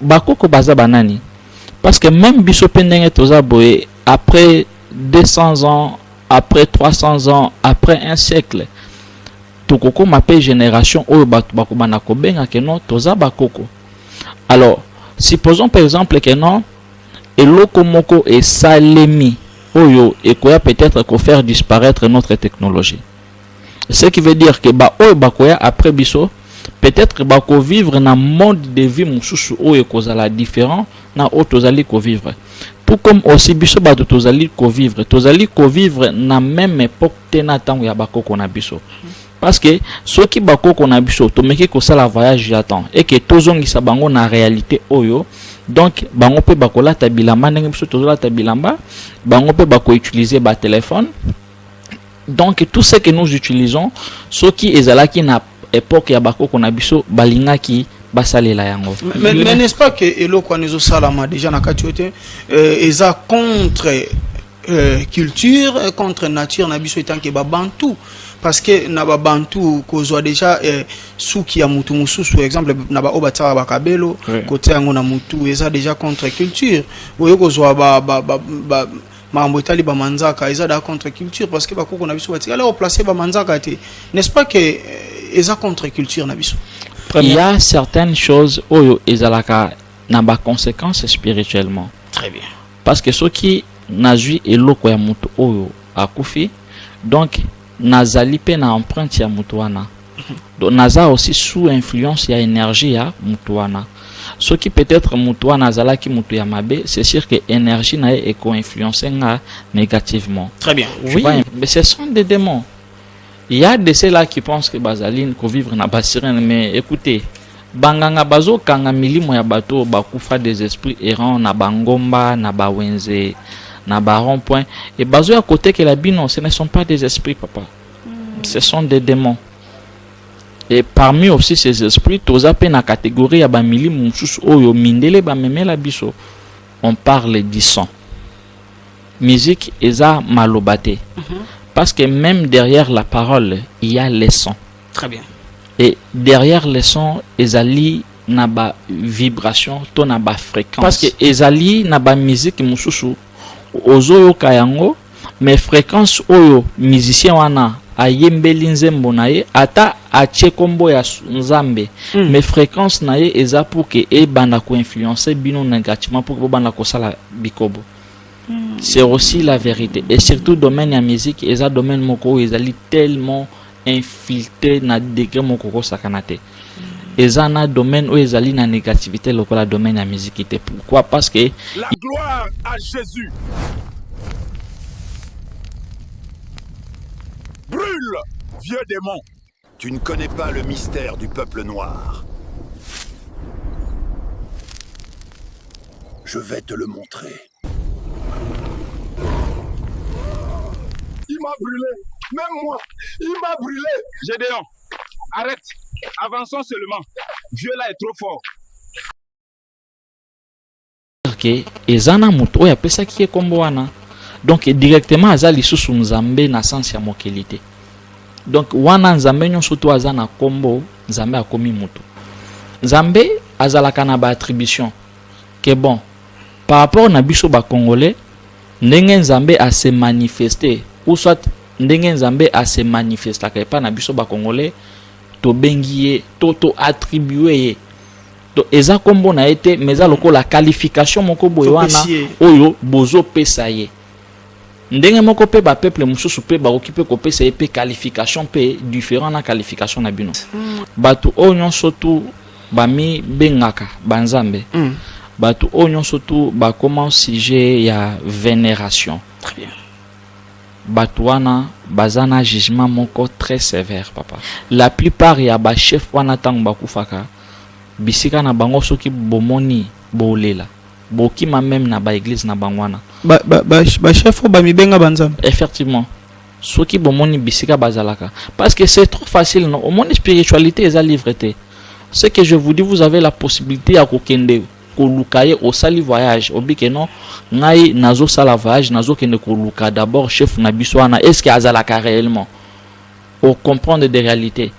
Ba koko baza ba nani? Parce que meme biso pe ndenge toza boye après 200 ans, après 300 ans, après un siècle tokokoma pe generation oyo batu bakobanda kobenga ke non toza ba koko. Alors supposons par exemple ke non eloko moko esalemi oyo ekoya peut-être ko faire disparaître notre technologie. ce qui veut dire que ba oyo bakoya après biso peut-être bako vivre na mode de vie mosusu oyo ekozala différent na oyo tozali kovivre tout comme aussi biso bato tozali kovivre tozali kovivre na même époque te na ntango ya bakoko na biso parce que soki bakoko na biso tomeki kosala voyage ya temps eke tozongisa bango na réalité oyo donc bango mpe bakolata bilamba ndenge biso tozolata bilamba bango mpe bakoutilize batelefone Donc tout ce que nous utilisons soki ezalaki na epoque ya bakoko na biso balingaki basalela yango mais, mais n'est-ce pas que eloko wana ezosalama déjà na kati oyo te euh, eza contre euh, culture euh, contre nature na biso etanke babantu parce que na babantu kozwa déjà eh, suki ya mutu mosusu exemple na baoyo batiaka bakabelo oui. kotia yango na mutu eza déjà contre culture oyo kozwa ba, ba, ba, ba, Makambo etali ba manzaka eza da contre culture parce que ba koko na biso ba tikala ko placer ba manzaka te n'est-ce pas que euh, eza contre culture na biso. Première... Il y a certaines choses oyo ezalaka na ba conséquences spirituellement. Très bien. Parce que ceux qui nazui eloko ya moto oyo akufi donc nazali pe na empreinte ya moto wana. donc naza aussi sous influence ya energie ya mutu wana soki peut-être mutu wana azalaki mutu ya mabe c'est sûr que energie na ye ekoinfluence nga négativement très bien oui mais ce sont des démons il y a de ceux là qui pensent que bazali kovivre na basirene mais écoutez banganga bazokanga milimo ya bato oyo bakufa des esprits errants na bangomba na bawenze na barond point e bazoya kotekela bino ce ne sont pas des esprits papa mm. ce sont des démons et parmi aussi ces esprits toza pe na catégorie ya ba milimu mosusu oyo mindele ba memela biso on parle du son musique eza maloba te mm -hmm. parce que même derrière la parole il y a les sons très bien et derrière les sons ezali na ba vibration to na ba fréquence parce que ezali na ba musique mosusu ozoyoka yango Mais frequence oyo musicien wana ayembeli nzembo na ye ata atie kombo ya nzambe mm. mais frequence na ye eza pour que ebanda koinfluence bino negativement pour que bobanda kosala bikobo mm. c'est aussi la vérité et surtout domaine ya musique eza domaine moko oyo ezali tellement infiltre na degre moko kosakana te eza na domaine oyo ezali na négativité lokola domaine ya miziki te pourquoi parce que la gloire à jésus brûle vieux démon tu ne connais pas le mystère du peuple noir je vais te le montrer Il m'a brûlé. Même moi, il m'a brûlé. Gédéon, arrête. Avançons seulement. Vieux là est trop fort. que eza na moto oyo apesaki ye nkombo wana donc directement aza lisusu nzambe na sense ya mokili te donc wana nzambe nyonso to aza na nkombo nzambe akomi moto nzambe azalaka na baattribution ke bon par rapport na biso ba congolais ndenge nzambe a se manifeste ou soit ndenge nzambe a se manifestaka epa na biso ba congolais tobengi ye to to attribue ye to eza kombo na ye te mais eza lokola qualification moko boye wana oyo bozopesa ye Ndenge moko pe ba peuples mususu pe bakoki pe kopesa ye pe qualification pe different na qualification na bino. Batu oyo nionso tout ba mi bengaka ba nzambe. Batu oyo nionso tout ba koma sujet ya veneration. Très bien. Batu wana baza na jugement moko très sevère papa. La plupart ya ba chefs wana tango bakufaka bisika na bango soki bomoni bolela. Bokima meme na ba eglise na bango wana. Ba ba ba, ba chef oyo bamibenga ba nzambe. Effectivement. Soki bomoni bisika bazalaka parce que c'est trop facile non omoni spiritualité eza livre te ce que je vous dis vous avez la possibilité ya kokende koluka ye osali voyage obike non ngai nazosala voyage nazokende koluka d'abord chef na biso wana est ce que azalaka réellement ocomprendre de réalité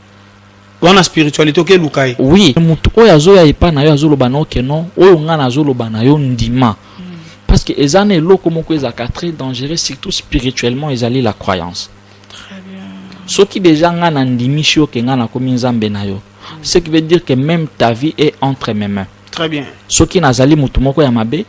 wana spiritualite oke luka ye oui mutu oyo azoya epa na yo azoloba na oke non oyo nga nazoloba na yo ndima mm. parce que eza na eloko moko ezalaka très dangereux surtout spirituellement ezali la croyance soki deja nga na ndimisi yo ke nga nakomi nzambe na yo mm. ce qui veut dire que même ta vie est entre mes mains très bien soki nazali mutu moko ya mabe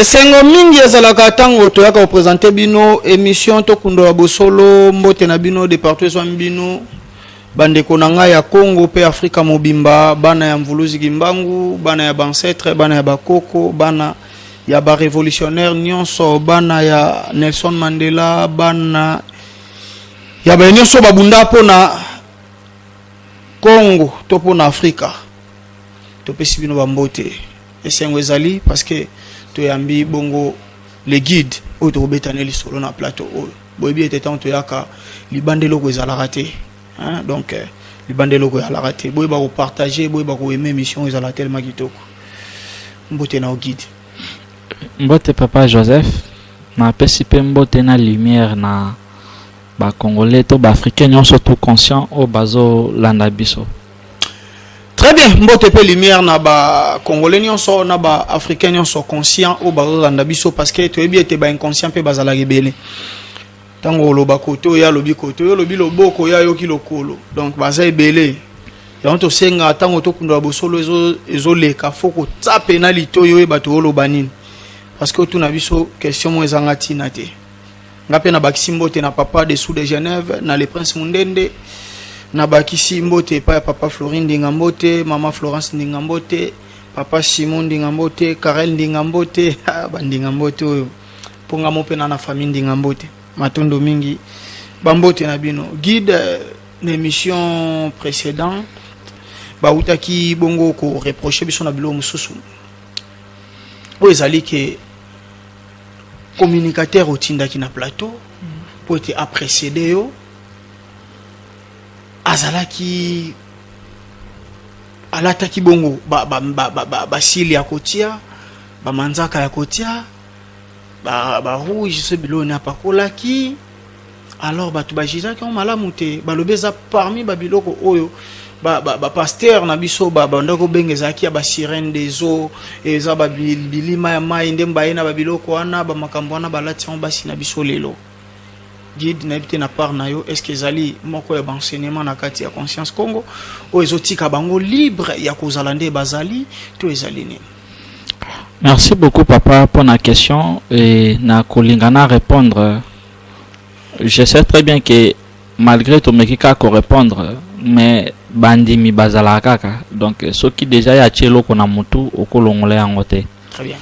esengo mingi ezalaka ntango toyaka kopresente bino émission tokundola bosolo mbote na bino de partout ezwami bino bandeko na ngai ya congo mpe afrika mobimba bana ya mvuluzi kimbangu bana ya bancetre bana ya bakoko bana ya barevolutionnaire nyonso bana ya nelson mandela bana ya baye nyonso babunda mpo na congo to mpo na afrika topesi bino bambote esengo ezali parce que toyambi bongo le guide oyo tokobeta ne lisolo na plateau oyo boyebi ete ntango toyaka libanda eloko ezalaka te donc euh, libanda eloko ezalaka te boyeba kopartage boyeba koyeme émission oyo ezala telema kitoko mbote na yo guide Mbote papa Joseph, na pesi pe mbote na lumière na ba congolais to ba africains nionso tout conscient oyo bazo landa biso. Très bien, mbote pe lumière na ba congolais nionso na ba africains nionso conscient oyo bazo landa biso parce que toyebi ete ba inconscient pe bazalaka ebele. ntango oloba koto ye alobi koto yo olobi loboko ye ayoki lokolo donc baza ebele yango tosengaka ntango tokundola bosolo ezoleka fo kotya pena litoi oyo bato oloba nini parce que otuna biso question moko ezanga ntina te nga mpe nabakisi mbote na papa de sous de genève na le prince mundende nabakisi mbote epai ya papa florin ndinga mbote mama florence ndinga mbote papa simon ndinga mbote carel ndinga mbote ah, bandinga mbote oyo Mpo nga mope na na famille ndinga mbote matondo mingi ba mbote na bino guide euh, na emission précédent bautaki bongo ko reprocher biso na biloko mosusu oyo ezali ke communicateur otindaki na plateau mpo ete aprécéde yo azalaki alataki bongo basili ba, ba, ba, ba, ya kotia bamanzaka ya kotia ba, ba rouge so biloko nini apakolaki alors bato bajijaki yango malamu te balobi eza parmi babiloko oyo bapastere ba, ba na biso babanda kobenga ezalaki ya basirene des eaux eza bilima ya mai nde baye na babiloko wana bamakambo wana balati yango basi na biso lelo guide nayebi te na part na yo est ce que ezali moko ya baenseignement na kati ya conscience congo oyo ezotika bango libre ya kozala nde bazali to ezali nini Merci beaucoup papa pour la question et na kolingana répondre. Je sais très bien que malgré tout mais qui ko répondre mais bandimi bazala kaka donc ce qui déjà ya chelo kona mutu okolongola yango te. Très bien.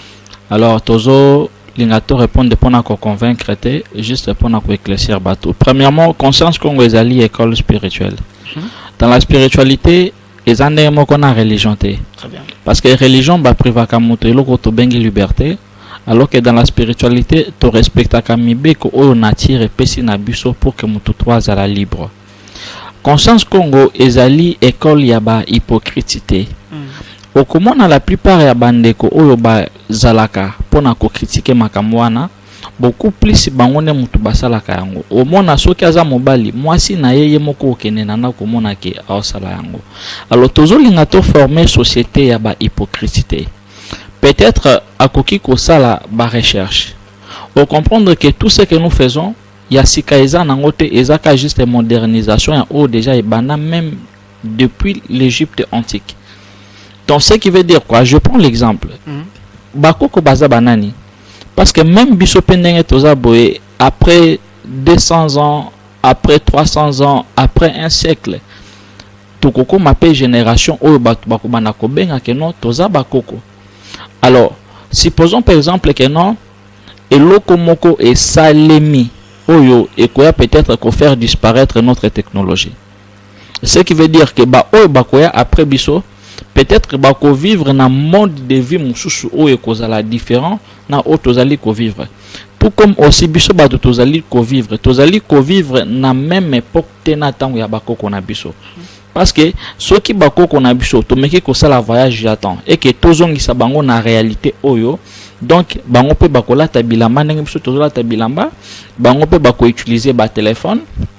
Alors tozo linga to répondre pona ko convaincre te juste pona ko éclaircir bateau. Premièrement conscience kongo ezali école spirituelle. Mm -hmm. Dans la spiritualité eza ndenge moko na religion te parce que religion ba privaka moto eloko tobengi liberté alors que dans la spiritualité to respectaka mibeko oyo nature epesi na biso pour que moto to azala libre conscience congo ezali école ya ba hypocrite te mm. okomona la plupart ya bandeko oyo bazalaka mpo na kokritike makambo wana beaucoup plus bango nde mutu basalaka yango omona soki aza mobali mwasi na ye ye moko okende na ndako omona ke aosala yango alors tozolinga to former société ya ba hypocrite te peut-être akoki kosala ba recherche o comprendre que tout ce que nous faisons ya sika eza nango te ezaka juste modernisation ya oyo déjà ebanda même depuis l'Egypte antique. Donc ce qui veut dire quoi Je prends l'exemple. Mm -hmm. Bakoko baza banani Parce que même biso pendenge toza boye après 200 ans, après 300 ans, après un siècle, tokoko mape génération oyo batu bakobana kobenga que non toza bakoko. Alors, supposons par exemple que non eloko moko esalemi oyo ekoya peut-être ko faire disparaître notre technologie. ce qui veut dire que ba oyo bakoya après biso peut-être bako vivre na mode de vie mosusu oyo ekozala différent na oyo tozali kovivre tout comme aussi biso bato tozali kovivre tozali kovivre na meme époque te na ntango ya bakoko na biso parce que soki bakoko na biso tomeki kosala voyage ya temps eke tozongisa bango na réalité oyo donc bango mpe bakolata bilamba ndenge biso tozolata bilamba bango mpe bakoutilize batelefone ba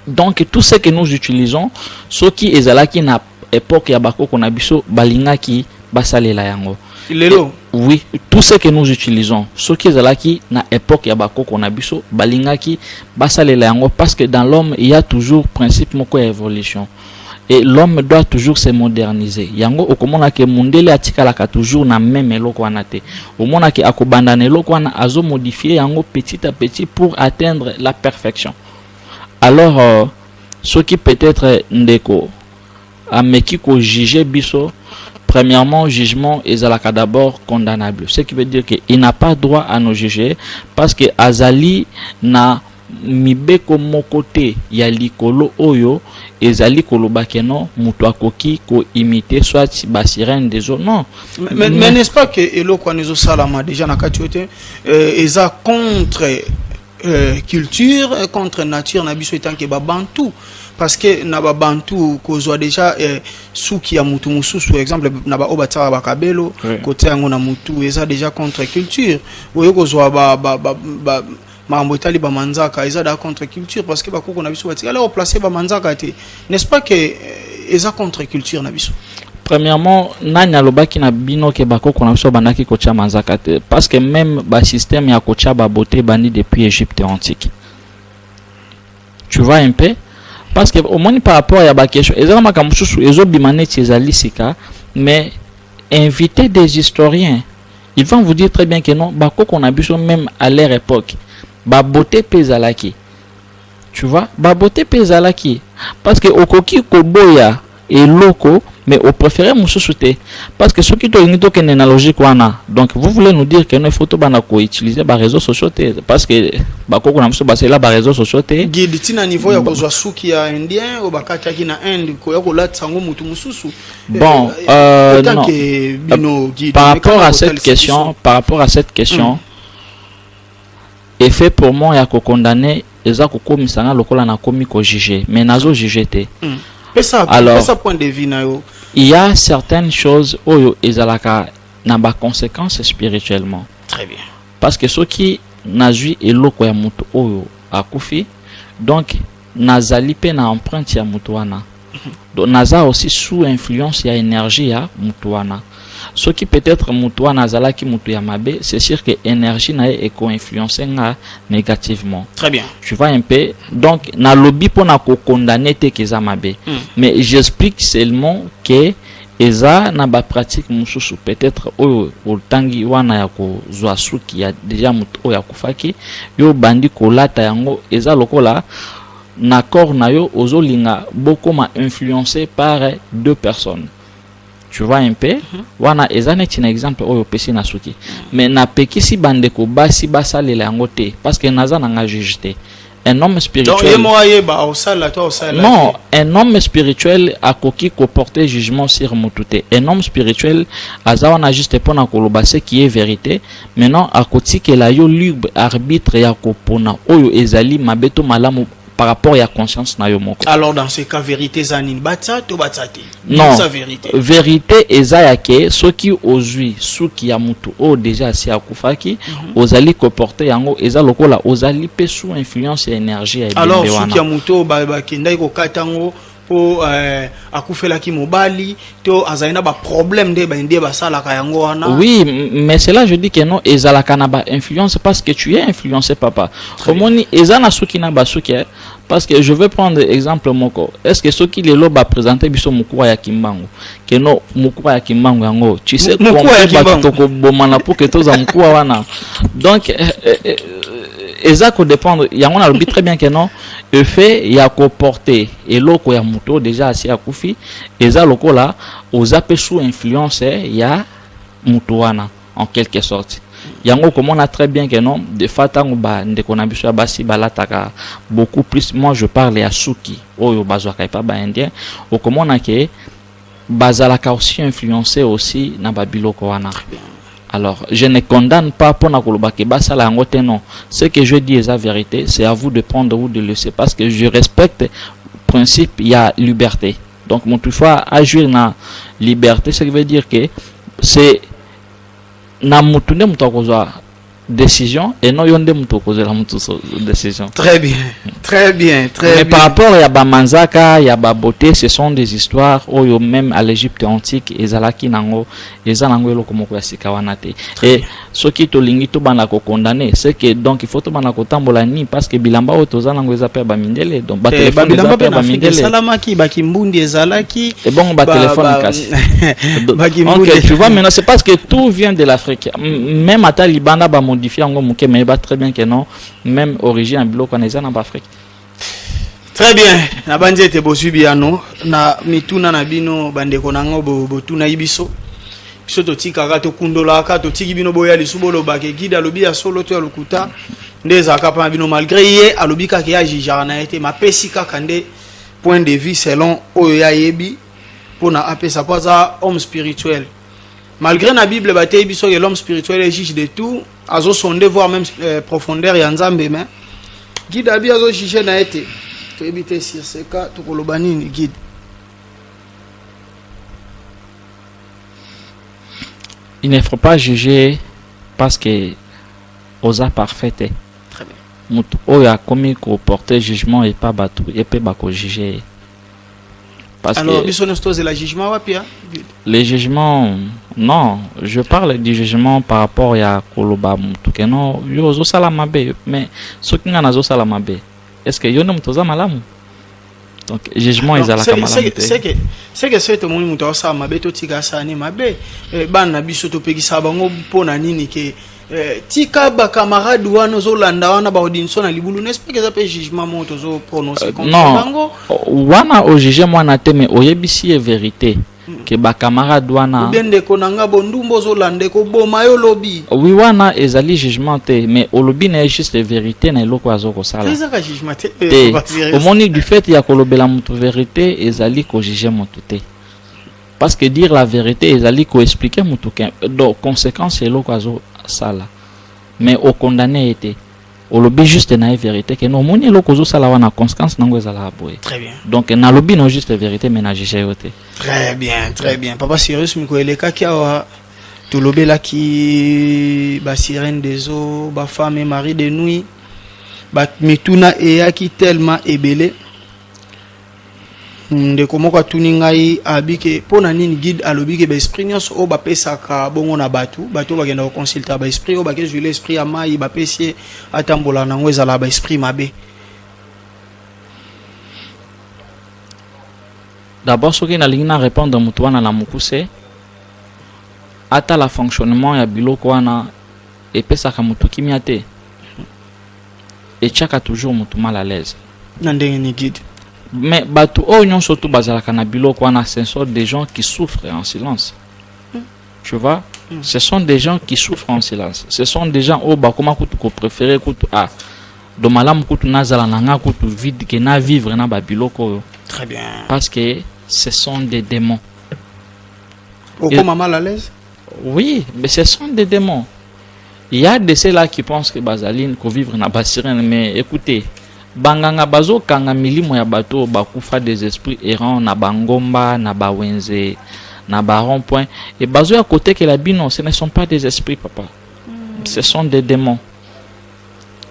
donc tout ce que nous utilisons soki ezalaki na époque ya bakoko na biso balingaki basalela yango lelo oui tout ce que nous utilisons soki ezalaki na époque ya bakoko na biso balingaki basalela yango parce que dans l'homme il y a toujours principe moko ya évolution et l'homme doit toujours se moderniser yango okomona ke mundele atikalaka toujours na meme eloko wana te omona ke akobanda na eloko wana azo modifier yango petit à petit pour atteindre la perfection alors euh, soki peut-être ndeko ameki ko juger biso Premièrement, jugement est d'abord condamnable. Ce qui veut dire qu'il n'a pas droit à nos juger parce que Azali n'a Mibeko moko te ya likolo oyo ezali koloba que non mutu akoki ko imiter soit ba sirene des eaux non. Mais, mais, mais n'est-ce pas que eloko wana ezo salama dejà na kati oyo te euh, eza contre euh, culture euh, contre nature na biso etant que ba bantou parce que na ba bantou kozwa déjà euh, suki ya mutu mususu exemple na ba oyo batiaka bakabelo Oui. kotia yango na mutu eza déjà contre culture oyo kozwa ba, ba, ba, ba, Makambo etali ba manzaka eza da contre culture parce que ba koko na biso ba tikala ko placer ba manzaka te n'est-ce pas que euh, eza contre culture na biso. Premièrement, nani alobaki na bino ke bakoko na biso bandaki kotia manzaka te parce que même ba système ya kotia ba beauté bandi depuis Égypte antique. Tu vois un peu parce que au moins par rapport ya ba question ezala makambo mosusu ezobima neti ezali sika mais inviter des historiens Ils vont vous dire très bien que non, bakoko na biso même à leur époque, ba beauté pe ezalaki. Tu vois, ba beauté pe ezalaki parce que okoki koboya eloko mais au préféré mususu te parce que soki tolingi tokende na logique wana donc vous voulez nous dire que no faut tobanda koutiliser baréseau sociaux te parce que bakoko na biso basela baréseau sociaux te guide ntina niveau ya kozwa suki ya indien oyo bakataki na inde koya kolatisa yango motu mosusu Bon, euh, non. Euh, par rapport à cette question, par rapport à cette question, mm. effet pour moi ya ko condamner eza ko komisa na lokola na komi ko juger, mais nazo juger te. Mm. Pesa, Alors, pesa point de vue na yo. Il y a certaines choses oyo ezalaka na ba conséquences spirituellement. Très bien. Parce que ceux qui nazui eloko ya moto oyo akufi, donc Nazali pe na empreinte ya mutu wana. Donc naza aussi sous influence ya energie ya mutu wana. Soki peut etre mutu wana azalaki mutu ya mabe, c'est sur que energie na ye e ko influencer nga negativement. Très bien. Tu vois un peu? Donc nalobi pona ko condamner te que eza mabe. Mais j'explique seulement que Eza na ba pratique mususu peut etre oyo otangi wana ya ko zua suki ya deja mutu oyo akufaki yo obandi ko lata yango eza lokola na corps na yo ozo linga bokoma influence par deux personnes tu vois un peu mhm. wana eza neti na exemple oyo opesi na suki mais na pekisi bande ko basi basalela yango te parce que naza na nga juge te un homme spirituel non un homme spirituel a qui porter jugement sur mutute un homme spirituel azawa na juste pona koloba ce qui est vérité maintenant la yo libre arbitre ya kopona oyo ezali mabeto malamu par rapport à conscience na yo moko alors dans ce cas vérité zanine batsa to batsate non verite eza ya ke soki ozwi suki ya motu oyo deja asi akufaki mm -hmm. ozali koporte yango eza lokola ozali mpe sous influence ya énergie ya ebembe wana suki ya motu oyo bakendaki kokata yango mpo eh, akufelaki mobali to azali na baproblème nde bande basalaka yango wana oui mais cela je dis que non ezalaka na bainfluence parce que tu es influencé papa omoni eza na suki na basuki eh. Parce que je vais prendre exemple moko. Est-ce que soki lelo ba présenter biso mukura ya Kimbangu, que non mukura ya Kimbangu yango, tu sais combien bato toko bomana pour que toza mukura wana. Donc eh, eh, eh, eza ko dépendre yango na lobi très bien que non le fait ya ko porter eloko ya moto déjà asi akufi eza lokola oza pe sous influence ya moto wana. en quelque sorte yango okomona très bien que non de fa ntango bandeko na biso ya basi balataka beaucoup plus moi je parle ya suki oyo bazwaka epa baindien okomona ke bazalaka aussi influence aussi na babiloko wana alors je ne condamne pas mpo na koloba ke basala yango te non ce que je dis eza vérité c'est à vous de prendre ou de laisser parce que je respecte principe ya liberté Donc mutu faut agir na liberté, ce qui veut dire que c'est na mutu nde mutu akozwa décision et non yo nde mutu okozela mutu décision. Très bien, très bien, très Mais bien. Mais par rapport à Bamanzaka, ya Babote, ce sont des histoires oyo même à l'Égypte antique ezalaki nango Eza nango eloko moko ya sika wana te. Et soki tolingi tobanda ko condamner, c'est que donc il faut tobanda kotambola ni parce que bilamba oyo toza nango eza pe ya ba mindele. Donc ba Eh, telephone eza babilamba pe mpe ya na ba afrika mindele. esalamaki bakimbundi ezalaki Et bon ba telephone kasi. Donc bakimbundi tu vois maintenant c'est parce que tout vient de l'Afrique. M- Même ata libanda ba modifier yango moke mais ba très bien que non, même origine ya biloko wana eza na ba Afrique. Très bien, nabanzi ete bozwi biyano na mituna na bino bandeko na ngo botunaki biso biso totikaka tokundolaka totiki bino boya lisu bolobaka egide alobi ya solo to ya lokuta nde ezalaka mpona bino malgré ye alobi kaka ye ajijaka na ye te mapesi kaka nde point de vue selon oyo ye ayebi mpona apesa mpo aza homme spirituel malgré na bible bateyi biso ke l'homme spirituel est juge de tout azo sonde voir même euh, profondeur ya nzambe mais guide abi azo juge na ye te toyebi te sur ce cas tokoloba nini guide il ne faut pas juger parce que oza parfait te moto oyo akomi koporte jugement epa bato ye mpe bakojuge ye Parce Alors, que c'est la jugement wapi hein? Les jugements, non, je parle du jugement par rapport à Koloba Moutou. Que non, yo zo salamabe, mais ceux qui n'en zo salamabe, est-ce que yo nom toza malamu? Donc, jugement ils allaient comme malamu. C'est que c'est que c'est tout le monde moutou salamabe, tout tika sani mabe, eh, ban na biso to pegi sabango pona nini ke Eh, tika ba camarade wana ozolanda wana ba odinso na libulu n'est-ce pas eza pe jugement moko tozo prononcer euh, contre bango wana o juger mwana te mais oyebisi ye vérité mm. ke ba camarade wana bien ndeko na nga bondumba ozolanda ekoboma yo lobi oui wana ezali jugement te mais olobi na ye juste vérité na eloko azo kosala ezaka jugement te eh, omoni du fait ya kolobela motu vérité ezali kojuge motu te Parce que dire la verite ezali ko expliquer mutu que donc consequence eloko azo sala mais au condamner ye te olobi juste na ye verite ke no omoni eloko ozosala wana conséquence nango ezalaka boye très bien donc nalobi no juste verite mais na juge yo te très bien très bien papa sirius miko elekaki awa tolobelaki basirene des eaux bafemme et mari de nuit bamituna eyaki tellement ebele Ndeko moko atuni ngai abi ke mpo na nini guide alobi ke baesprit nyonso oyo bapesaka bongo na bato bato oyo bakenda koconsulte ya baesprit oyo bakezwile esprit ya mai bapesi ye atambola na yango ezala baesprit mabe dabord soki nalingi na répondre moto wana na mokuse atala fonctionnement ya biloko wana epesaka moto kimia te etiaka toujours mutu mal à l'aise na ndenge ni guide mais batu oyo nyonso tu bazalaka na biloko wana ce sont des gens qui souffrent en silence mm. tu vois mm. ce sont des gens qui souffrent en silence ce sont des gens oyo bakoma kutu kopréféré kutu a ah, do malamu kutu nazala na nga kutu vide ke na vivre na babiloko oyo très bien parce que ce sont des démons okoma mal à l'aise oui mais ce sont des démons Ya de ce là qui pense que bazali ko vivre na ba sirene mais ecoutez ba nganga bazo kanga milimo ya bato oyo ba kufa des esprits errants na ba ngomba na ba wenze na ba rond point et bazo ya ko tekela bino ce ne sont pas des esprits papa mm. ce sont des demons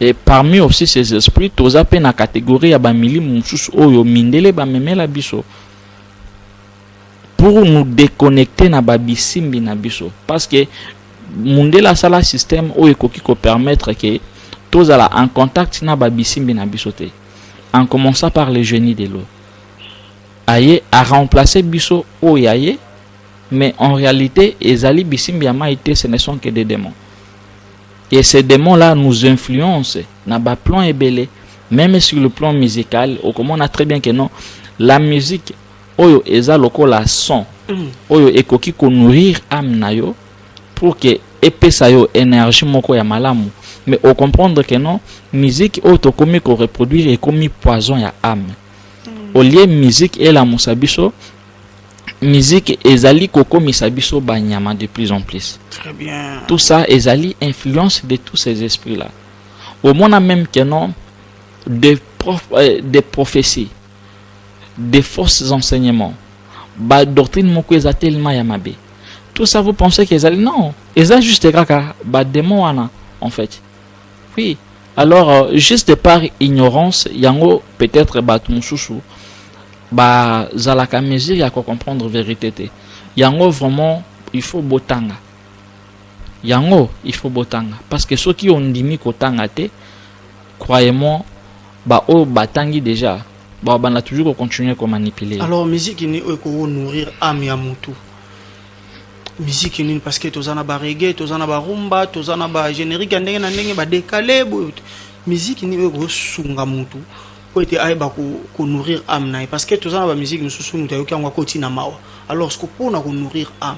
et parmi aussi ces esprits toza pe na catégorie ya ba milimo mosusu oyo mindele ba memela biso pour nous deconnecter na ba bisimbi na biso parce que mundele asala système oyo ekoki ko permettre que tozala en contact na ba bisimbi na biso te en commençant par le génie de l'eau aye a remplacer biso oyo aye mais en réalité ezali bisimbi ya mai te ce ne sont que des démons et ces démons là nous influencent na ba plans ebele même sur le plan musical okomona très bien que non la musique Oyo eza lokola son oyo ekoki ko nourrir ame na yo pour que epesa yo energie moko ya malamu mais o comprendre que non musique oyo tokomi ko reproduire ekomi poison ya ame au lieu musique elamusa biso musique ezali kokomisa biso banyama de plus en plus. Très bien. Tout ça ezali influence de tous ces esprits là. Omona même que non des, prof, euh, des prophéties des fausses enseignements ba doctrine moko eza tellement ya mabe tout ça vous pensez que ezali non eza juste kaka ba démon wana en fait oui alors euh, juste par ignorance yango peut-être bato mosusu bazalaka mesure ya kocomprendre vérité te yango vraiment il faut botanga yango il faut botanga parce que soki ondimi kotanga te croyez-moi Ba oyo ba tangi dejà ba banda toujours ko continuer ko manipuler. Alors musique ni oyo ko nourrir ame ya mutu. Musique ni parce que toza na ba reggae, toza na ba rumba, toza na ba générique ya ndenge na ndenge ba décalé boyo. Musique ni oyo ko sunga mutu po ete ayeba ko, ko nourrir ame na ye parce que toza na ba musique mosusu mutu ayoki yango akoti na mawa alors ce que pona ko nourrir ame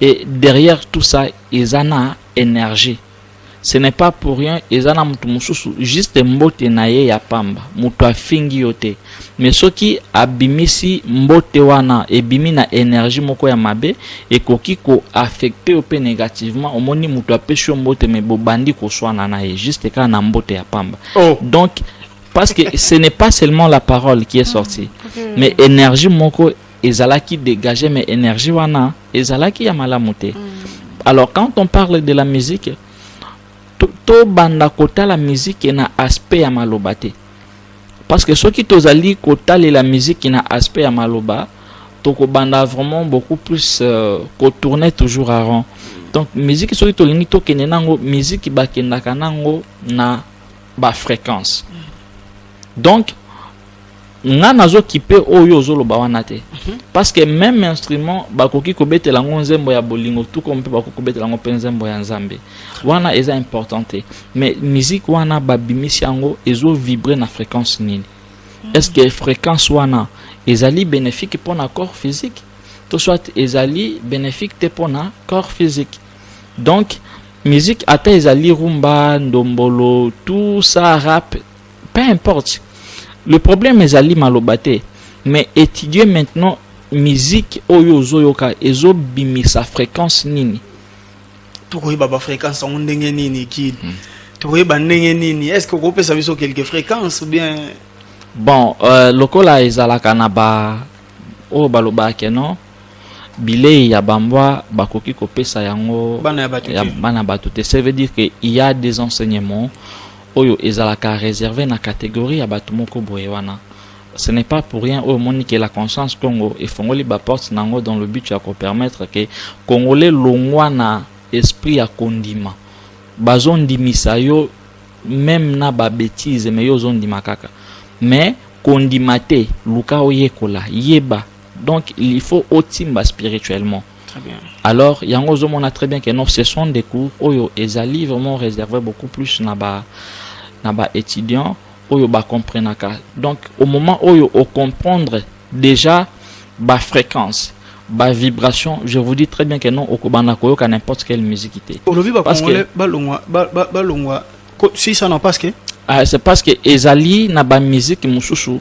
Et derrière tout ça eza na energie ce n'est pas pour rien eza na mutu mususu juste mbote na ye ya pamba mutu afingi yo te mais soki abimisi mbote wana ebimi na energie moko ya mabe ekoki ko affecter yo pe negativement omoni mutu apesi yo mbote mais bobandi koswana na ye juste kaka na mbote ya pamba oh. donc parce que ce n'est pas seulement la parole qui est sortie mm. mais énergie moko ezalaki dégagé mais énergie wana ezalaki ya malamu te mm. alors quand on parle de la musique tobanda to kotala musique na aspect ya maloba te parce que soki tozali kotalela musique na aspect ya maloba tokobanda vraiment beaucoup plus euh, kotourne toujours à rond donc musique soki tolingi tokende nango musique bakendaka nango na bafréquence mm. donc nga nazo kipe oyo ozoloba wana te mhm. parce que même instrument bakoki kobetela yango nzembo ya bolingo tout comme mpe bakoki kobetela yango mpe nzembo ya nzambe wana eza important te mais musique wana babimisi yango ezo vibre na fréquence nini mhm. est ce que fréquence wana ezali bénéfique mpo na corps physique to soit ezali bénéfique te mpo na corps physique donc musique ata ezali rumba ndombolo tout ça rap Peu importe. Le problème ezali maloba te mais etudier maintenant musique oyo ozoyoka ezobimisa fréquence nini tokoyeba ba fréquence yango ndenge nini kid hmm. tokoyeba ndenge nini est ce que okopesa biso quelque fréquence ou bien bon euh, lokola ezalaka na ba oyo balobaka non Bileyi ya ba mbwa bakoki kopesa yango ya bana batu te ce veut dire que il ya des enseignements oyo ezalaka reserve na categorie ya batu moko boye wana ce n'est pas pour rien oyo omoni que la conscience Congo efongoli ba porte na yango dans le but ya ko permettre que congolais longwa na esprit ya kondima bazo ndimisa yo meme na ba betise mais yo ozo ndima kaka mais kondima te luka oyekola yeba donc il faut otimba spirituellement très bien alors yango ozomona très bien que non ce sont des cours oyo ezali vraiment réservé beaucoup plus na ba na ba étudiants oyo ba comprenaka donc au moment oyo o comprendre déjà ba fréquence ba vibration je vous dis très bien que non okobanda koyoka n'importe quelle musique te olobi ba congolais balongwa balongwa si ça non parce que ah, c'est parce que ezali na ba musique mosusu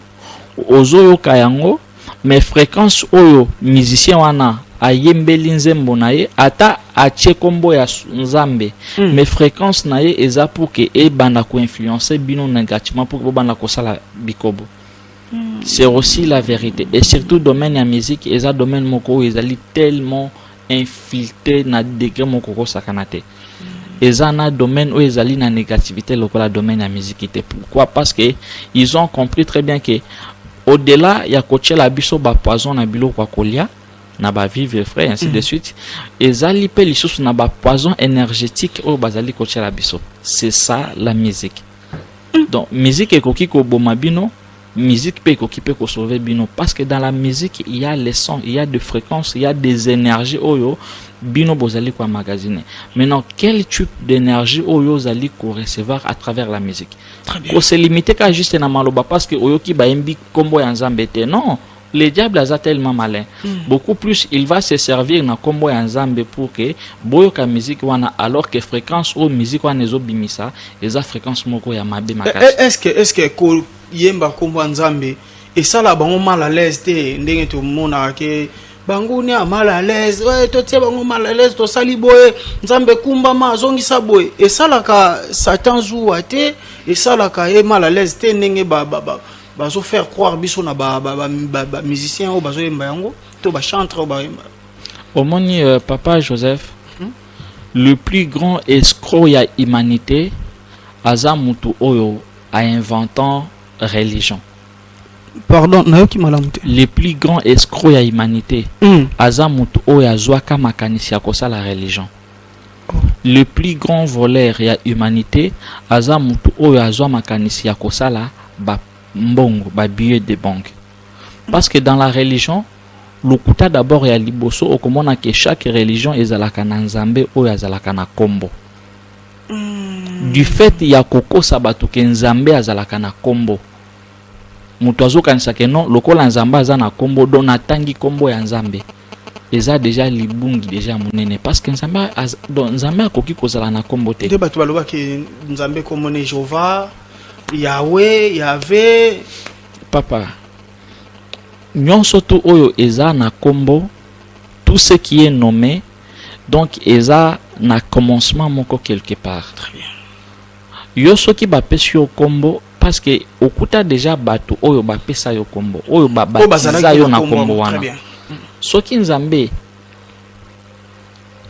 ozoyoka yango mais frequence oyo musicien wana ayembeli nzembo na ye ata atie kombo ya nzambe mm. mais frequence na ye eza pour que ebanda koinfluence bino negativement pour que bobanda kosala bikobo mm. c'est aussi la vérité et surtout domaine ya musique eza domaine moko oyo ezali tellement infiltre na degre moko kosakana te eza na domaine oyo ezali na négativité lokola domaine ya miziki te pourquoi parce que ils ont compris très bien que au delà ya kotyela biso bapoison na biloko ya kolia na ba vivre frais ainsi mm. de suite ezali mpe lisusu na bapoison énergétique oyo bazali kotyela biso c'est ça la musique mm. donc musique ekoki koboma bino Musique pe ekoki pe ko sauver bino parce que dans la musique il y a les sons, il y a de fréquences, il y a des énergies oyo bino bozali ko emmagasiner. Maintenant quel type d'énergie oyo ozali ko recevoir à travers la musique? Très bien. Ko se limiter ka juste na maloba parce que oyoki bayembi kombo ya Nzambe te. Non. Le diable aza tellement malin. Mm. Beaucoup plus, il va se servir na combo ya Nzambe pour que boyoka musique wana alors que fréquence ou musique wana ezo bimisa eza fréquence moko ya mabe eh, makasi. Eh, est-ce que est-ce que ko yemba combo ya Nzambe esala bango mal à l'aise te ndenge to mona ke bango ni mal à l'aise ouais to tie bango mal à l'aise to sali boye Nzambe kumba ma zongisa boye esala ka Satan zuwa te esala ka ye mal à l'aise te ndenge ba ba, ba. bazo faire croire biso na ba ba, ba, ba, ba musiciens oyo bazo yemba yango to ba chantre oyo bayemba omoni euh, papa joseph hmm? le plus grand escroc ya humanité aza mutu oyo a inventant religion pardon nayoki malamu te le plus grand escroc ya humanité hmm. aza mutu oyo azwaka makanisi ya kosala religion Le plus grand voleur ya humanite aza mutu oyo azwa makanisi ya kosala ba mbongo ba billet de banque parce que dans la religion lokuta d'abord ya liboso okomona que chaque religion ezalaka na nzambe oyo azalaka na kombo du fait ya kokosa bato ke nzambe azalaka na kombo moto azokanisa ke non lokola nzambe aza na kombo don natangi kombo ya nzambe eza deja libungi deja ya monene parce que nzambe donc nzambe akoki kozala na nkombo te nde bato balobaki nzambe nkombo ne jehova yawe yave papa nyonso tu oyo eza na nkombo tout ce qui est nommé donc eza na commencement moko quelque part yo soki bapesi yo nkombo Parce que okuta deja batu oyo ba pesa yo kombo, oyo ba batiza yo na kombo wana. Soki Nzambe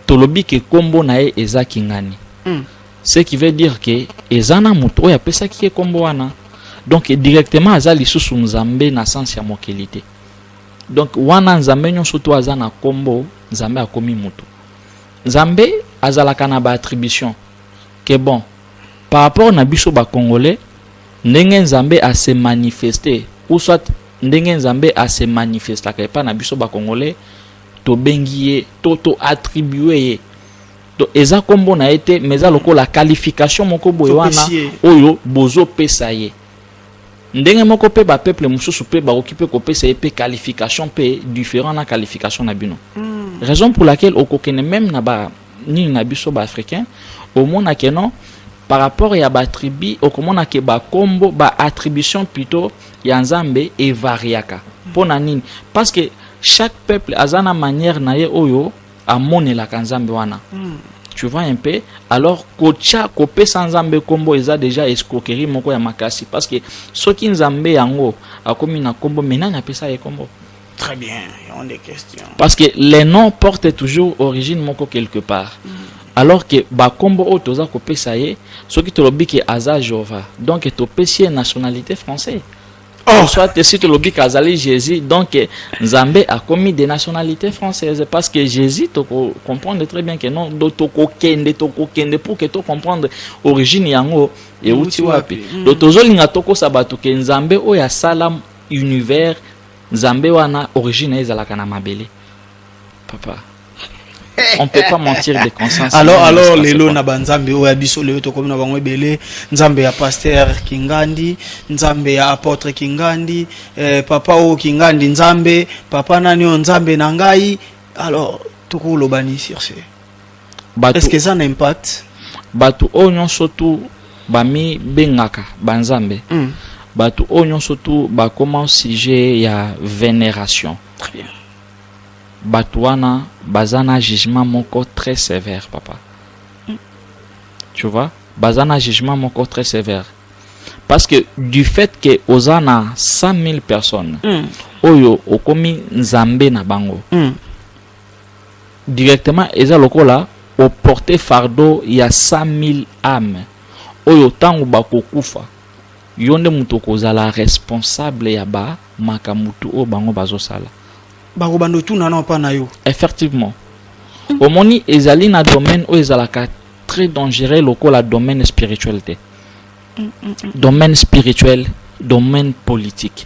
tolobi ke kombo na ye eza Kingani. Mm. Ce qui veut dire que eza na moto oyo apesaki ye kombo wana. Donc directement aza lisusu Nzambe na sens ya mokili te. Donc wana Nzambe nyonso to aza na kombo, Nzambe akomi moto. Nzambe azalaka na ba attribution que bon par rapport na biso ba congolais ndenge nzambe a se manifeste ou soit ndenge nzambe a se manifestaka epa na biso ba congolais tobengi ye to to attribue ye donc eza kombo na ye te mais eza lokola qualification moko boye wana oyo bozo pesa ye ndenge moko pe ba peuple mosusu pe bakoki pe kopesa ye pe qualification pe différent na qualification na bino mm. raison pour laquelle okokende même na ba nini na biso ba africain omona ke non par rapport ya ba tribu okomona ke ba kombo ba attribution plutôt ya nzambe evariaka mpo na nini parce que chaque peuple aza na manière na ye oyo amonelaka nzambe wana mm. tu vois un peu alors kotya kopesa nzambe nkombo eza déjà escroquerie moko ya makasi parce que soki nzambe yango akomi na nkombo me nani apesa ye nkombo Très bien, il y a des questions. Parce que les noms portent toujours origine moko quelque part. Mm -hmm. Alors que bakombo oyo toza kopesa ye soki tolobi ke aza Jova donc topesi ye nationalité française. Oh. Soit si tolobi ke azali Jésus donc Nzambe akomi de nationalité française parce que Jésus toko comprendre très bien que non do toko kende toko kende pour que to comprendre origine yango euti wapi. Mm. Donc tozolinga tokosa bato ke Nzambe oyo asala univers Nzambe wana origine na ye ezalaka na mabele. Papa. On peut pas mentir de conscience. Alors Non, alors c'est pas lelo ça. na ba nzambe oyo ya biso lelo tokomi na bango ebele nzambe ya pasteur Kingandi, nzambe ya apôtre Kingandi, eh, papa oyo Kingandi nzambe, papa nani oyo nzambe na ngai. Alors tokoloba nini sur ce? Bato, Est-ce que eza na impact? Bato oyo nyonso tu bamibengaka banzambe mm. bato oyo nyonso tu bakoma sujet ya veneration très bien bato wana baza na jugement moko très sévère papa mm. tu vois baza na jugement moko très sévère parce que du fait que oza na 100 000 personnes mm. oyo okomi nzambe na bango mm. Directement eza lokola o porter fardeau ya 100.000 ames oyo tango bako kufa yo nde mutu okozala responsable ya ba makambu tout oyo bango bazo sala. Bako banda otuna nao epa nayo. Effectivement. Omoni ezali na domaine oyo ezalaka très dangereux lokola domaine spirituel te. Domaine spirituel, domaine politique.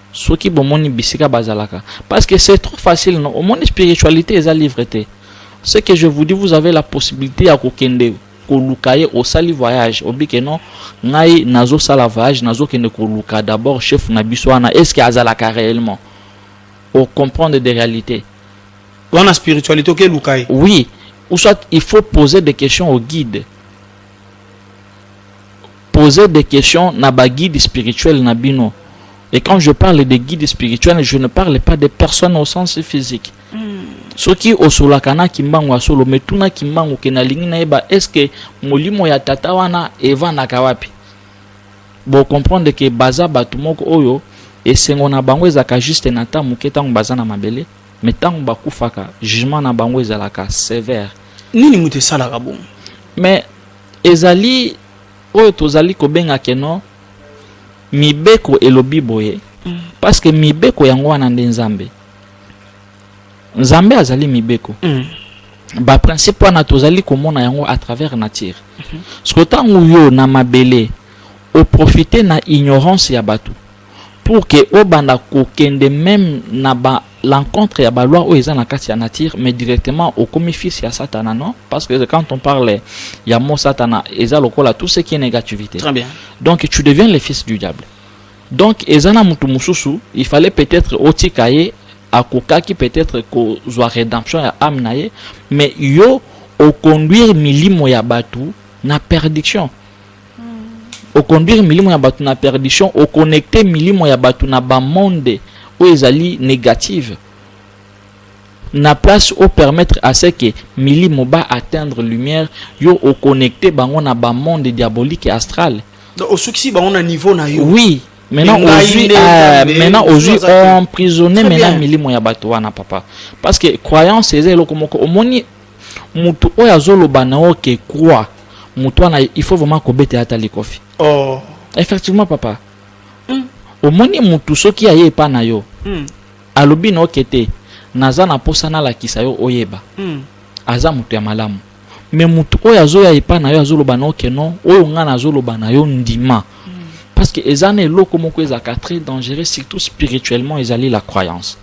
soki bomoni bisika bazalaka parce que c'est trop facile non omoni spiritualité eza livre te ce que je vous dis vous avez la possibilité ya kokende koluka ye osali voyage obi ke non ngai nazosala voyage nazokende koluka d'abord chef na biso wana est ce que azalaka réellement ocomprendre des réalités wana spiritualité okeluka ye oui ou soit il faut poser des questions au guide Poser des questions na ba guide spirituel na bino. Et quand je parle de guide spirituel, je ne parle pas de personnes au sens physique. Mm. soki osolaka na kimbangu ya solo me tuna kimbangu ke nalingi nayeba eske molimo ya tata wana evandaka wapi bocomprendre ke baza bato moko oyo esengo na bango ezalaka juste na ntango moke ntango baza na mabele me ntango bakufaka jugement na bango ezalaka sévère nini moto esalaka bongo me ezali oyo tozali kobenga que non mibeko elobi boye mm. parce que mibeko yango wana nde nzambe nzambe azali mibeko mm. baprincipe wana tozali komona yango à travers nature mm -hmm. soko ntango yo na mabele oprofite na ignorance ya bato pour que obanda kokende meme na ba l'encontre ya ba loi oyo eza na kati ya nature mais directement okomi fils ya satana non parce que quand on parle ya mot satana eza lokola tout ce qui est négativité Très bien. donc tu deviens le fils du diable donc eza na mutu mususu il fallait peut-être otika ye akokaki peut-être kozwa rédemption ya âme na ye mais yo oconduire milimo ya bato na perdiction oconduire milimo ya bato na perdition, oconnecte milimo ya bato na bamonde oyo ezali negative, na place o permettre à ce que milimo ba atteindre lumière, yo oconnecte bango na bamonde diabolique et astral. Donc osukisi bango na niveau na yo. Oui. Maintenant aujourd'hui, euh, maintenant aujourd'hui, emprisonné maintenant milimo ya bato wana papa. Parce que croyance eza eloko moko omoni Mutu oyo azo loba na yo que croix mutu wana il faut vraiment ko betela ata likofi. Oh. Effectivement papa. Mm. Omoni mutu soki aye epa na yo. Mm. Alobi na yo que te naza na posa na lakisa yo oyeba. Mm. Aza mutu ya malamu. Mais mutu oyo azo ya epa na yo azo loba na yo que non oyo nga nazo loba na yo ndima. Mm. Parce que eza na eloko moko ezaka très dangereux surtout spirituellement ezali la croyance.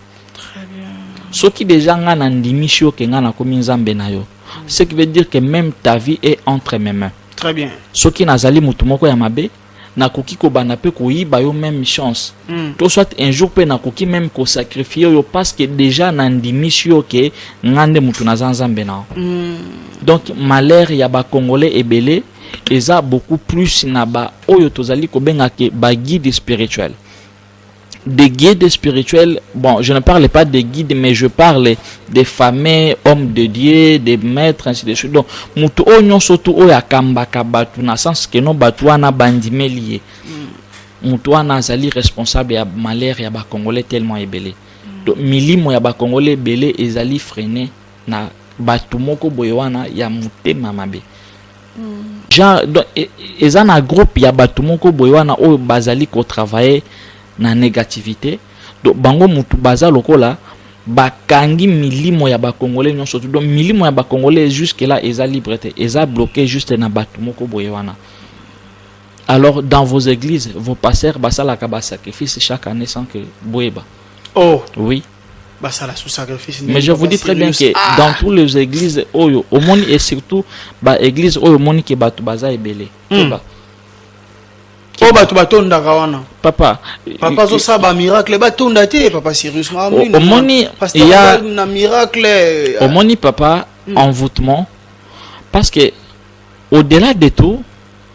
soki deja nga na ndimisi yo ke nga nakomi nzambe na yo ce qui veut dire que même ta vie est entre mes mains très bien soki nazali moto moko ya mabe nakoki kobanda mpe koyiba yo même chance mm. to soit un jour mpe nakoki même kosacrifie yo parce que déjà nandimisi yo ke nga nde moto naza nzambe na yo mm. donc malheur ya bacongolais ebele eza beaucoup plus na baoyo tozali kobengaka baguide spirituel des guides spirituels, bon, je ne parle pas des guides, mais je parle des fameux hommes de Dieu, des maîtres, ainsi de suite. Donc, mutu o nyonso tu oyo akambaka batu na sens que non batu wana bandimeli ye. Mm. Mutu wana azali responsable ya malheur ya ba Congolais tellement ebele. Mm. Donc, milimo ya ba Congolais ebele ezali freiner na batu moko boye wana ya mutema mabe. genre donc e- e- eza na groupe ya bato moko boye wana oyo bazali kotravaille na négativité donc bango mutu baza lokola bakangi milimo ya bakongole nyonso tu donc milimo ya bakongole jusque là eza libre te eza bloqué juste na bato moko boye wana alors dans vos églises vos pasteurs basalaka basacrifice chaque année sans que boyeba oh oui Mais je vous dis très bien que ah! dans toutes les églises oyo omoni et surtout ba églises oyo omoni que bato baza ebele. Hmm. oyo oh, bato batondaka wana papa papa azosala bamiracle batonda te papa sirius omoni na miracle euh, omoni papa hmm. envoûtement parce que au delà de tout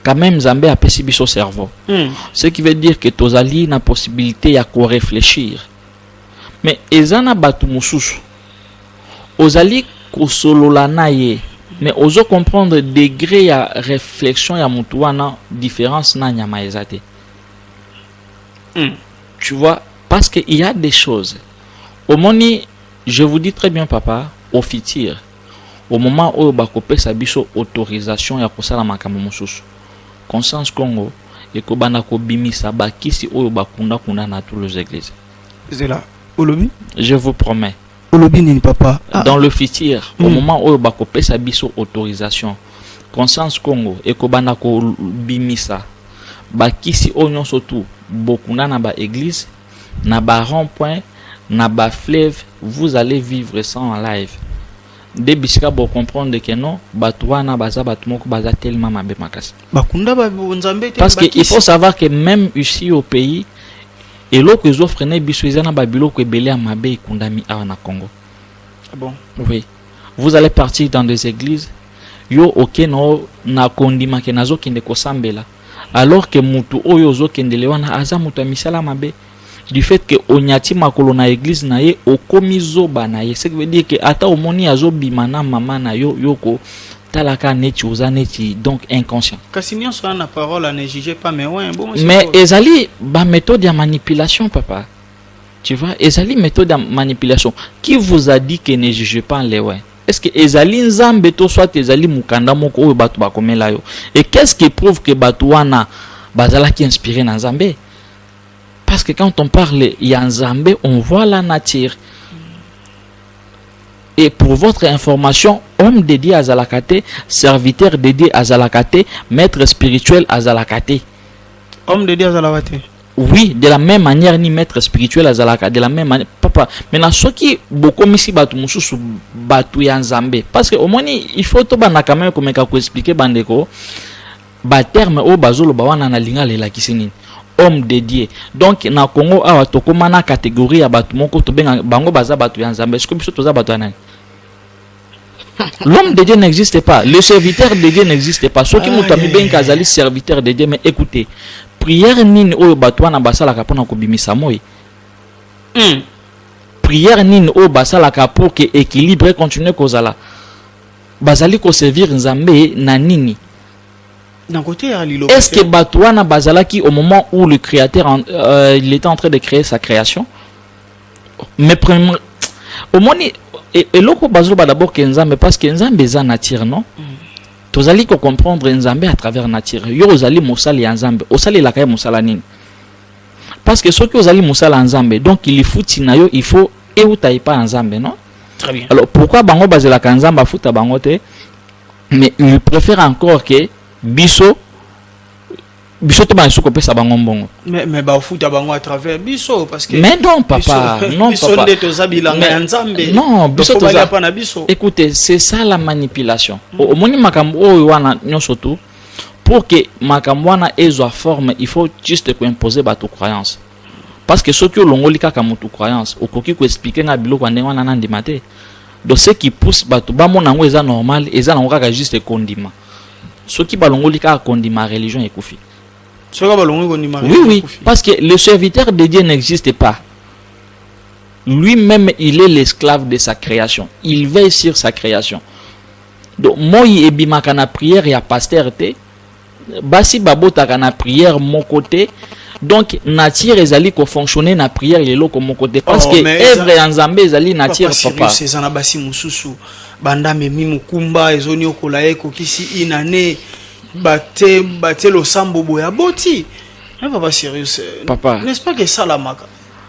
quand même nzambe apesi biso cerveau hmm. ce qui veut dire que tozali na possibilité ya koréfléchir mais eza na batu mususu ozali kosolola naye mais ozo comprendre degre ya reflexion ya mutu wana difference na nyama eza te mm. tu vois parce que il y a des choses omoni je vous dis très bien papa au futur au moment oyo bakopesa biso autorisation ya kosala makambo mosusu conscience congo ekobanda kobimisa ba kisi oyo ba kunda kunda na toulouse eglise zela olobi je vous promets olobi nini papa ah. dans le futur mm. au hmm. moment oyo bakopesa biso autorisation conscience congo ekobanda kobimisa bakisi oyo nyonso tu bokuna na ba église na ba rond point na ba fleuve vous allez vivre ça en live nde bisika bocomprendre ke non bato wana baza bato moko baza telema mabe makasi bakunda ba nzambe te parce que il faut savoir que même ici au pays eloko ezo freine biso eza na ba biloko ebele ya mabe ekundami awa na Congo ah bon oui vous allez partir dans des églises yo oke no na kondima ke nazokende kosambela alors que mutu oyo ozokendele wana aza mutu ya misala mabe du fait que onyati makolo na eglise na ye okomi zoba na ye ce qui veut dire que ata omoni azobima na mama na yo yoko talaka neti oza neti donc inconscient kasi nyonso wana na parole ane juge pas mais ouais, bon, mais ezali baméthode ya manipulation papa tu vois ezali méthode ya manipulation qui vous a dit que ne juge pas lewe est ce que ezali nzambe to soit ezali mokanda moko oyo bato bakomela yo et qu'est ce qui prouve que bato wana bazalaki inspiré na nzambe Parce que quand on parle ya Nzambe, on voit la nature. Et pour votre information, homme dédié à Zalakate, serviteur dédié à Zalakate, maître spirituel à Zalakate. Homme dédié à Zalakate Oui, de la même manière, ni maître spirituel à Zalakate, de la même manière. Papa, mais na soki bokomisi batu mususu batu ya Nzambe. Parce que au moins, il faut to bana quand même komeka ko expliquer bandeko. Ba termes oyo bazo loba wana na lingala elakisi nini? Homme de Dieu. Donc na Congo awa tokoma na categorie ya batu moko tobenga bango baza batu ya Nzambe. Est-ce que biso toza batu ya nani? L'homme de Dieu n'existe pas. Le serviteur de Dieu n'existe pas. Soki moto amibengi azali serviteur de Dieu mais écoutez, prière nini oyo batu wana basalaka pona kobimisa moi? Hmm. Prière nini oyo basalaka pour que équilibre continue kozala? Bazali ko servir Nzambe na nini? Est-ce que bato wana bazalaki au moment où le créateur en, euh, il était en train de créer sa création? Mais premièrement, omoni e, eloko bazoloba d'abord ke Nzambe parce que Nzambe eza nature, non? Mm. Tozali ko comprendre Nzambe à travers nature. Yo ozali mosali ya Nzambe, osalelaka ye mosala nini? Parce que soki ozali mosala ya Nzambe, donc il faut tina yo, il faut euta epa ya Nzambe, non? très bien alors pourquoi bango bazelaka nzambe afuta bango te mais il préfère encore que biso biso tobanda lisusu kopesa bango mbongo mais bafuta bango à travers biso parce que mais non papa non biso nde toza bilanga ya nzambe non biso toza pa na biso écoutez c'est ça la manipulation mm. omoni makambo oyo wana nyonso tout pour que makambo wana ezwa forme il faut juste koimpose bato croyance parce que soki olongoli kaka mutu croyance okoki ko expliquer nga biloko ya ndenge wana na ndima te donc ce qui pousse bato bamona yango eza normal eza nango kaka juste kondima soki balongoli kaka kondima religion ekufi soki balongoli kondima oui oui parce que le serviteur de Dieu n'existe pas lui-même il est l'esclave de sa création il veille sur sa création donc moi ebimaka na prière ya pasteur te Basi babotaka na prière moko te. Donc nature ezali ko fonctionner na prière ya eloko moko te parce oh, que œuvre ya Nzambe ezali nature papa. Eza na basi mosusu banda memi mokumba ezoniokola ye ekokisi une année bate bate losambo boya boti. Hein, papa sérieux. Papa. N'est-ce pas que ça la maka?